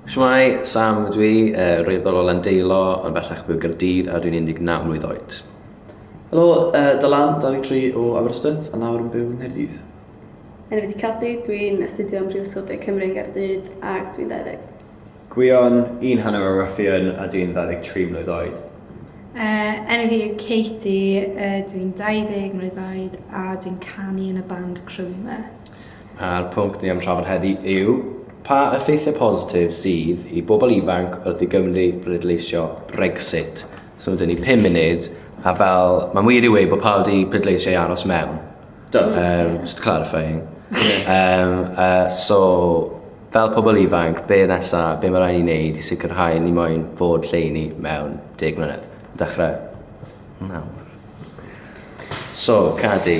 Shwmae, Sam ydw i, yy raeadr o Landeilo ond bellach byw yn Gaerdydd a dwi'n 19 mlwydd oed. Helo, yy Dylan, 23 o Aberystwyth a nawr yn byw yng Nghaerdydd. Enw fi 'di Cadi, dwi'n astudio ym Mhrifysgol De Cymru yn Gaerdydd ac dwi'n 20. Gwion, un hanner o Ruthian a dwi'n 23 mlwydd oed. Yy, enw fi yw Katie, yy dwi'n 20 mlwydd oed a dwi'n canu yn y band Chrome. A'r pwnc ni am trafod heddi yw pa effeithiau positif sydd i bobl ifanc wrth i Gymru bleidleisio Brexit. So dyn ni 5 munud a fel mae'n wir i wei bod pawb wedi pleidleisio i aros mewn. Do. Um, just clarifying. um, uh, so fel pobl ifanc, be nesa, be mae rhaid i wneud i sicrhau ni moyn fod lle i ni mewn deg mlynedd? Dechrau nawr. So, Cadi,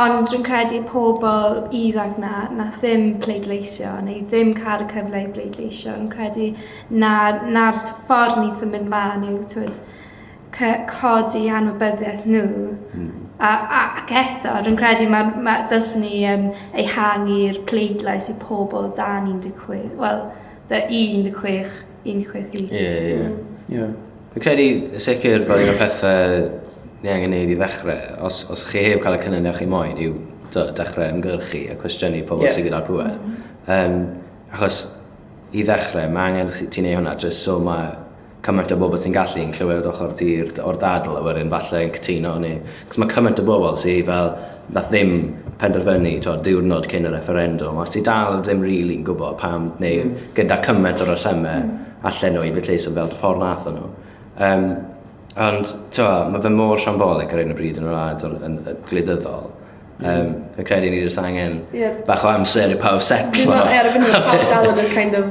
Ond rwy'n credu y pobl ifanc 'na wnaeth ddim pleidleisio neu ddim cael y cyfle i bleidleisio, rwy'n credu na 'na'r s- ffordd ni'n symud mlaen yw twyd cy- codi anwybyddiaeth nhw a a ac eto rwy'n credu ma' ma' dylsen ni yym ehangu'r pleidlais i pobl dan 16 wel dy- i 16 Yn chwythu. Ie, ie. Ie. Fi'n credu y sicr fel un o'r pethau ni angen neud i ddechrau, os, os chi heb cael y cynnydd na chi moyn, yw dechrau ymgyrchu a cwestiynu pobl yeah. sydd gyda'r pŵer. Mm -hmm. um, achos i ddechrau, mae angen ti neud hwnna, jyst so mae cymaint o bobl sy'n gallu yn clywed ochr ti o'r dadl a wedyn falle yn cytuno neu... Cos mae cymaint o bobl sydd fel Nath ddim penderfynu t'od diwrnod cyn y refferendwm a sy dal ddim rili'n gwbod pam neu gyda cyment o resyme allen nhw i bwtleiso fel dy ffordd nathon nhw. Yym ond t'o' ma' fe mor siambolig ar 'yn o bryd yn y wlad o'r yn yy gwleidyddol. Yym fi'n credu ni jyst angen... Ie. ...bach o amser i pawb setlo. Fi'n me'wl ie ar y funud pawb dal yn y kind of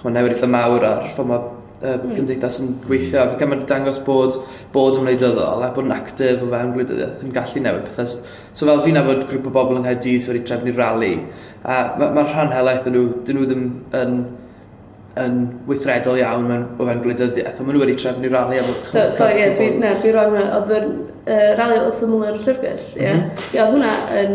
ch'mo' newid itha mawr ar ffor ma' yy gymdeithas yn gweithio ac ma'n dangos bod bod yn wleidyddol a bod yn actif o fewn gwleidyddiaeth yn gallu newid pethe s- so fel fi'n nabod grŵp o bobol yng Nghaerdydd sy wedi trefnu rali a ma' ma'r rhan helaeth o n'w 'dyn nw ddim yn yn weithredol iawn mewn o fewn gwleidyddieth on' ma' n'w wedi trefnu rali a bod t'mo'... So sori ie dwi na dwi rong 'wan odd yr yy rali odd wrth ymyl yr llyfrgell ie? M-hm. Ie odd hwnna yn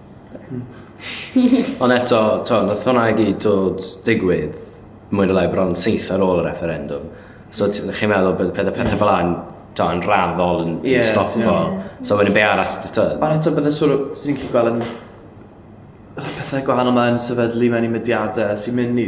Ond eto, t'o', nath hwnna i gyd dod digwydd mwy ne' lai bron syth ar ôl y refferendwm. So t- chi'n meddwl bydd pethe pethe fel 'a'n t'o' yn raddol yn yn stopo. So wedyn be' arall t- t'o'? Ond eto bydde siŵr o... Swn i'n gallu gwel' yn pethe gwahanol 'ma yn sefydlu mewn i mudiade sy myn' i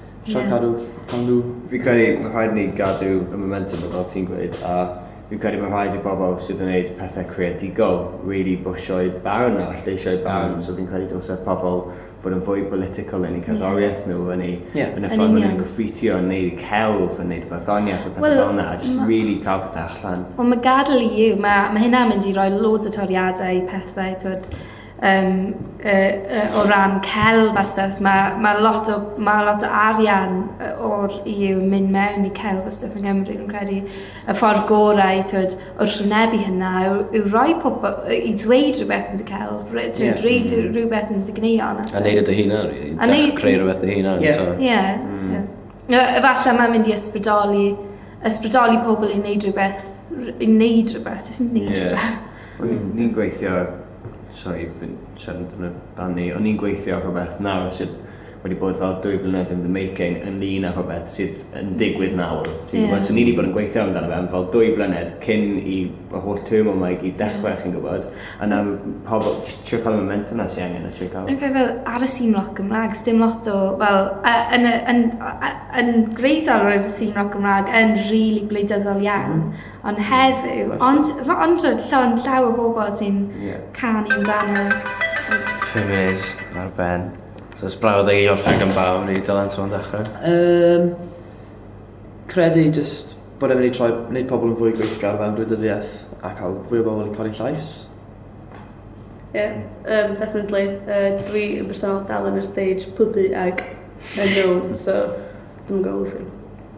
Sian Cadw, cawn nhw. Fi'n credu mae rhaid ni gadw y momentum fel ti'n gweud a fi'n credu mae rhaid i bobl sydd yn gwneud pethau creadigol really bwsio'u barn a lleisiau barn mm. so fi'n credu dylse pobl fod yn fwy political yn eu cerddoriaeth yeah. nhw yn, ei, yeah. yn y ffordd maen nhw'n gyffeithio yn neud celf yn neud barddoniaeth a pethau well, fel yna a just really cael pethau allan. Wel mae gadael i yw, mae, mae hynna'n mynd i roi loads o toriadau i pethau, twyd, Yym yy yy o ran celf a stwff ma' ma' lot o ma' lot o arian yy o'r EU yn mynd mewn i celf a stwff yng Nghymru fi'n credu y ffordd gorau t'wod o rhwynebu hynna yw yw roi pobo- yy i ddweud rhywbeth am dy celf re- t'wod... Ie. ...reid yy rhywbeth am dy gwneuon a stwff. A neud e dy hunan rili. A neu-... Creu rwbeth dy hunan eto. Ie. Ie. Hmm. Ie. Yy efalla ma'n mynd i ysbrydoli ysbrydoli pobol i neud rhywbeth r- i neud rhywbeth jyst i neud rhywbeth. Ie. Wel ni ni'n gweithio Sori fi'n siarad amdano barn i. O'n i'n gweithio ar rhwbeth nawr sydd wedi bod fel dwy flynedd in the making ynglŷn â rhwbeth sydd yn digwydd nawr. Ti'n gwbod? Ie. So ni 'di bod yn gweithio amdano fe am fel dwy flynedd cyn i yr holl turmoil 'ma i gyd dechre chi'n gwbod? A nawr m- pobol js trio ca'l y momentwm 'na sy angen a trio ca'l... Fi'n credu fel ar y sîn roc Gymra'g sdim lot o fel yy yn y yn o- yy yn gwreiddiol roedd y sîn roc Gymra'g yn rili gwleidyddol iawn. Ond heddiw. Ond fy ondrwyd llond llaw o bobl sy'n Ie. canu amdano. Pum munud ar ben. So os brawd ag i orffen gan bawb i Dylan Siôn ddechrau? Um, credu just bod e'n mynd i troi, wneud pobl yn fwy gweithgar mewn gwleidyddiaeth a cael fwy o bobl yn codi llais. Ie, yeah, um, definitely. Uh, dwi yn bersonol dal yn yr stage pwdu ag yn no, so dwi'n gwybod wrth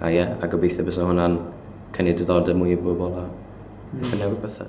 A ie, a gobeithio bysa hwnna'n cynnig diddordeb mwy i bobl a... Mm. ...gallu newid pethe.